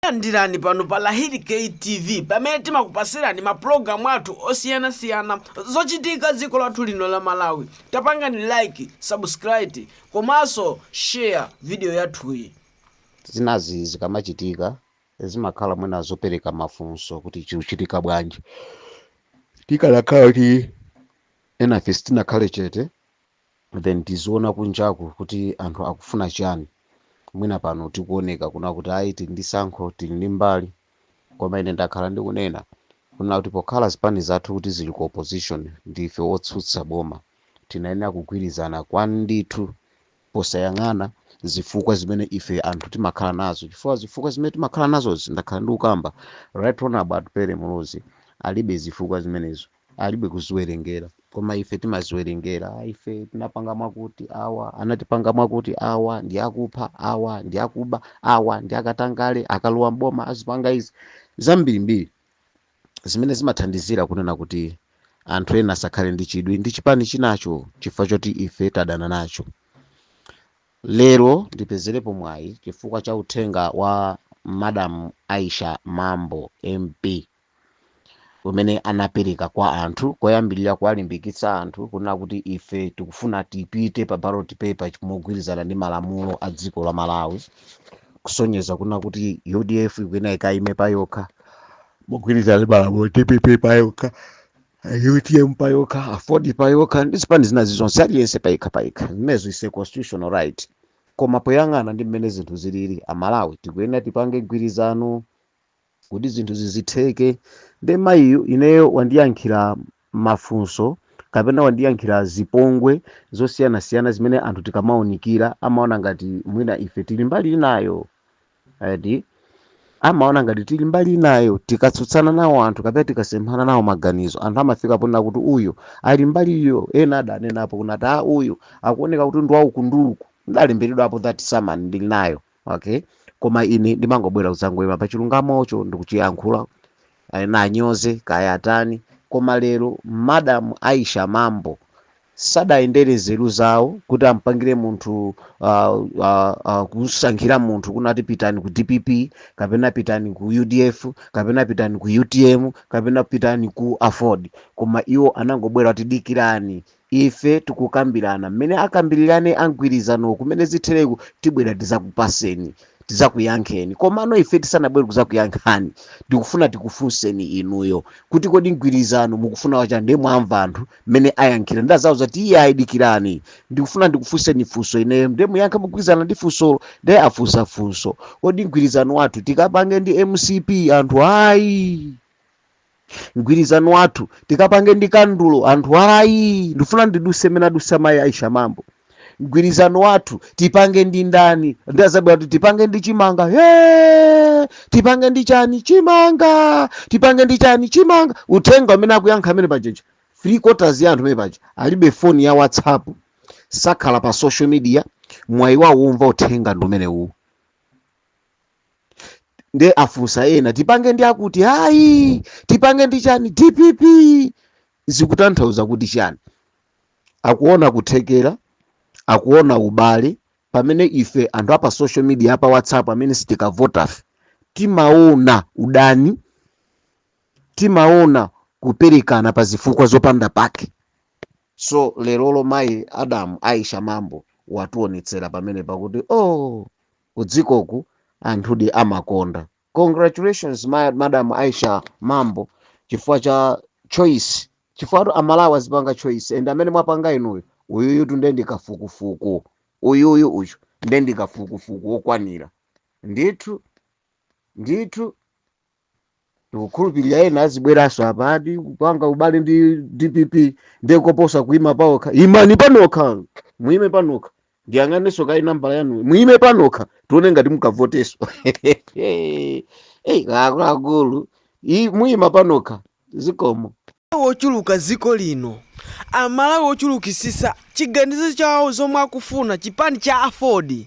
Landirani pano pa Lahiri K TV pamene timakupasirani mapulogalamu athu osiyanasiyana zochitika dziko lathu lino la Malawi. Tapangani like, subscribe komanso share video yathuyi. zinazi zikamachitika zimakhala mwina zopereka mafunso kuti chikuchitika bwanji tikanakhala kuti enafe sitinakhale chete then tiziona kunjaku kuti anthu akufuna chani mwina pano tikuoneka kuna kuti ayi tili ndi tsankho tili ndi mbali koma ine ndakhala ndikunena kuna kuti pokhala zipani zathu kuti zili ku opposition ndife otsutsa boma tinayenera kugwirizana kwandithu posayang'ana zifukwa zimene ife anthu timakhala nazo chifukwa zifukwa zimene timakhala nazo ndakhala ndikukamba right honourable pere mulozi alibe zifukwa zimenezo alibe kuziwerengera koma ife timaziwerengera "Ah, ife tinapanga mwakuti awa anatipanga mwakuti awa ndi akupha awa ndi akuba awa ndi akatangale akalowa mboma azipanga izi zambirimbiri zimene zimathandizira kunena kuti anthu ena asakhale ndi chidwi ndi chipani chinacho chifukwa choti ife tadana nacho lero ndipezerepo mwayi chifukwa cha uthenga wa madam aisha mambo mp umene anapereka kwa anthu koyambirira kuwalimbikitsa anthu kunena kuti ife tikufuna tipite pa ballot paper mogwirizana ndi malamulo a dziko la malawi kusonyeza kunena kuti udf ikuyenera ikayime pa yokha mogwirizana ndi malamulo dpp pa yokha utm pa yokha aford pa yokha ndi zipani zinazi zonse aliyense payekha payekha zimenezo is a constitutional right koma poyang'ana ndi mmene zinthu zilili amalawi tikuyenera tipange mgwirizano kuti zinthu zizitheke nde mayiyu ineyo wandiyankhira mafunso kapena wandiyankhira zipongwe zosiyanasiyana zimene anthu tikamaunikira amaona ngati mwina ife tili mbali inayo eti amaona ngati tili mbali inayo tikatsutsana nawo anthu kapena tikasemphana nawo maganizo anthu amafika ponena kuti uyu ali mbaliyo ena adanenapo kunati a uyu akuoneka kuti ndi waufunduku ndalemberedwapo that summon ndili nayo okay koma ine ndimangobwera kudzangoyima pa chilungamocho ndikuchiyankhula ena anyoze kaya atani koma lero madam aisha mambo sadayendere nzeru zawo kuti ampangire munthu uh, uh, uh, kusankhira munthu kunati pitani ku dpp kapena pitani ku udf kapena pitani ku utm kapena pitani ku aford koma iwo anangobwera kuti dikirani ife tikukambirana mmene akambirirane a mgwirizanowo mmene zitheremu tibwera tizakupaseni tizakuyankheni komano ife tisanabwere kuzakuyankhani ndikufuna tikufunseni inuyo kuti kodi mgwirizano mukufuna wa chani nde mwamva anthu mmene ayankhira ndiye akuti iye ayi dikirani ndikufuna ndikufunseni funso ineyo ndiye muyankhe mogwirizana ndi funsolo ndiye afunsa funso kodi mgwirizano wathu tikapange ndi mcp anthu ayi mgwirizano wathu tikapange ndi kandulo anthu ayi ndifuna ndiduse mmene adusa mayi aisha mambo mgwirizano wathu tipange ndi ndani nde azabwera kuti tipange ndi chimanga Hey! tipange ndi chani chimanga tipange ndi chani chimanga uthenga umene akuyankha amene pajeja three quarters ya anthu amene paja alibe foni ya whatsapp sakhala pa social media mwayi wawo umva uthenga ndi umene uwu nde afunsa ena tipange ndi akuti ayi tipange ndi chani dpp zikutanthauza kuti chani akuona kuthekera akuona ubale pamene ife anthu apa social media apa whatsapp amene sitikavotafe timaona udani timaona kuperekana pa zifukwa zopanda pake so lerolo madamu aisha mambo watuonetsera pamene pakuti oh kudzikoku anthudi amakonda. Congratulations madam Aisha Mambo chifukwa cha choice chifukwatu amalawi azipanga choice and amene mwapanga inuyo uyuyutu nde ndi kafukufuku uyuyu uyu nde ndi kafukufuku wokwanira ndithu ndithu. tikukhulupirira ena azibweranso apadi kupanga ubale ndi dpp ndiye koposa kuima paokha imani panokha muime panokha ndiyang'anenso kayi nambala yanu muime panokha tione ngati mukavoteso eyi akuluakulu i- muima panokha zikomo amalawi ochuluka dziko lino amalawi ochulukitsitsa chiganizo chawo zomwe akufuna chipani cha aford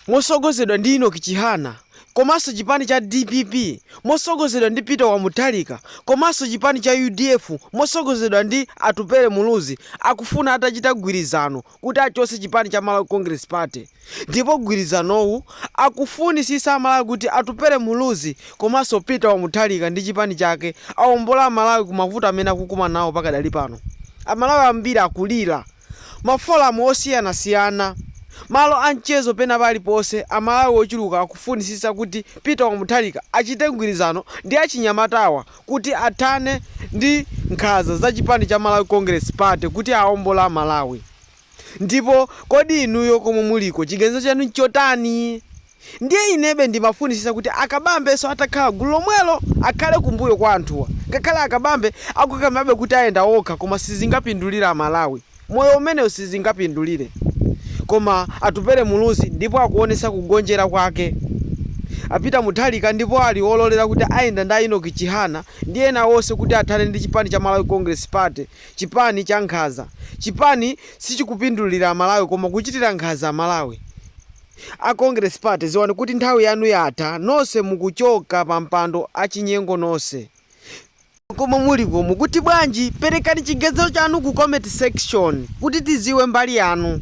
motsogozedwa ndi enock chihana komanso chipani cha dpp motsogozedwa ndi peter wamutharika komanso chipani cha udf motsogozedwa ndi atupele muluzi akufuna atachita gwirizano kuti achotse chipani cha Malawi Congress Party ndipo gwirizanowu akufunisitsa amalawi kuti Atupele Muluzi komanso Peter wa Mutharika ndi chipani chake awombole amalawi ku mavuto amene akukumana nawo pakadali pano amalawi ambiri akulira ma forum osiyanasiyana malo a mchezo pena paliponse amalawi ochuluka akufunisitsa kuti Peter wa Mutharika achite mgwirizano ndi achinyamatawa kuti athane ndi nkhanza za chipani cha Malawi Congress Party kuti aombole a Malawi. Ndipo kodi inuyo komwe muliko chiganizo chanu nchotani? Ndiye inebe ndimafunisisa kuti a Kabambenso atakhala gulu lomwelo akhale kumbuyo kwa anthuwa. Ngakhale a Kabambe akukakamirabe kuti ayenda okha koma sizingapindulire a Malawi. moyo umenewu sizingapindulire koma Atupele Muluzi ndipo akuonetsa kugonjera kwake. A Peter Mutharika ndipo ali ololera kuti ayenda ndi a Enock Chihana ndi ena onse kuti athane ndi chipani cha Malawi Congress Party, chipani cha nkhanza. Chipani sichikupindulira Amalawi koma kuchitira nkhanza Amalawi. A Congress Party dziwani kuti nthawi yanu yatha, nonse mukuchoka pampando achinyengo nonse. Komwe muliko mukuti bwanji? Perekani chiganizo chanu ku comment section kuti tiziwe mbali yanu.